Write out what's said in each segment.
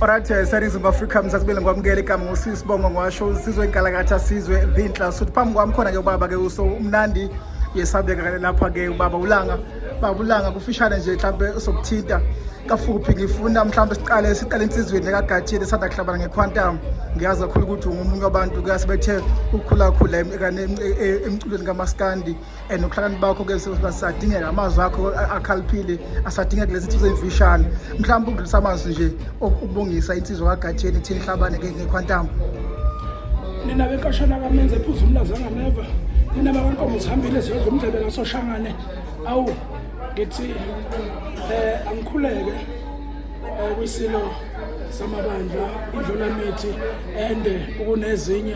Alright, eh, series of Africa msakubile ngikwamukela igama ngosisi bongo ngiwasho sizwe inkalakatha sizwe zinhla suthi phambi kwami khona ke ubaba ke uso umnandi yesabeka kale lapha ke ubaba ulanga baba ulanga kufishane nje mhlambe sokuthinta kafuphi ngifuna mhlambe siqale siqale insizweni lekagatshile sanda kuhlabana ngequantum ngiyazi kakhulu ukuthi ungomunye wabantu kuyasibethe ukukhulakhula e, e, emculweni kamaskandi and ukuhlakaniphi bakho ke sadingeka amazwi akho akhaliphile asadingeka kulezi nsizwa ezimfishane mhlawumbe ukudlulisa amazwi nje ukubongisa insizwa kagatsheni ethini hlabane ngekhwantambo nina benkashana kamenze ephuza umlazanga neva nina bakankomo zihambile ziyodla umdlebe kasoshangane awu ngithi um angikhuleke um kwisilo samabandla indlulamithi ende ukunezinye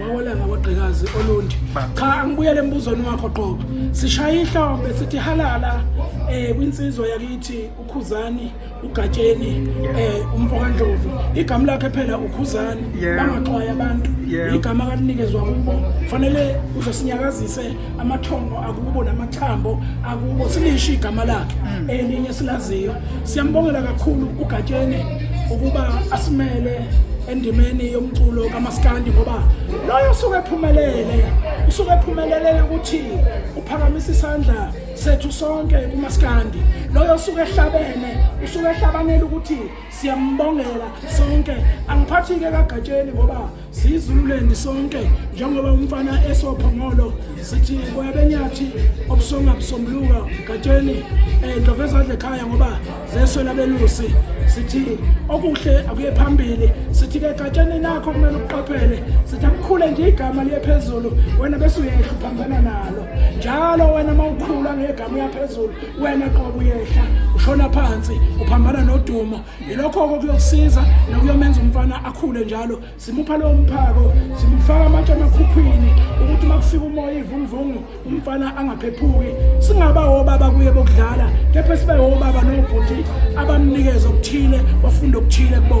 wawelanga wagqikazi olundi cha angibuyele embuzweni wakho qoba sishaye ihlombe sithi halala eh kwinsizwa yakithi ukhuzani ugatsheni eh umfokandlovu igama lakhe phela ukhuzani bangaxwaya abantu igama kalinikezwa kubo kufanele uzosinyakazise amathongo akubo namathambo akubo silisho igama lakhe mm. elinye silaziyo Siyambongela kakhulu uGatsheni ukuba asimele endimeni yomculo kamaskandi ngoba loyo usuke ephumelele usuke ephumelele ukuthi uphakamisa isandla sethu sonke kumaskandi loyo usuke ehlabene usuke ehlabanela ukuthi siyambongela sonke angiphathike kagatsheni ngoba siyizululeni sonke njengoba umfana esophongolo sithi boya benyathi obusonga busombuluka gatsheni um ndlova ezadla ekhaya ngoba zeswela belusi sithi okuhle akuye phambili sithi-ke gatsheni nakho kumele ukuqaphele sithi akukhule nje igama liye phezulu wena bese uyehla uphambana nalo njalo wena uma ukhula ngegama uyaphezulu wena qobo uyehla ushona phansi uphambana nodumo yilokho-ke kuyokusiza nokuyomenza umfana akhule njalo simupha lowo mphako simufaka amatshe amakhukhwini ukuthi uma kufika umoya ivunguvungu umfana angaphephuki singaba wobaba kuye bokudlala kepha sibe wobaba nobhuti abamnikeza okuthile bafunde okuthile kubona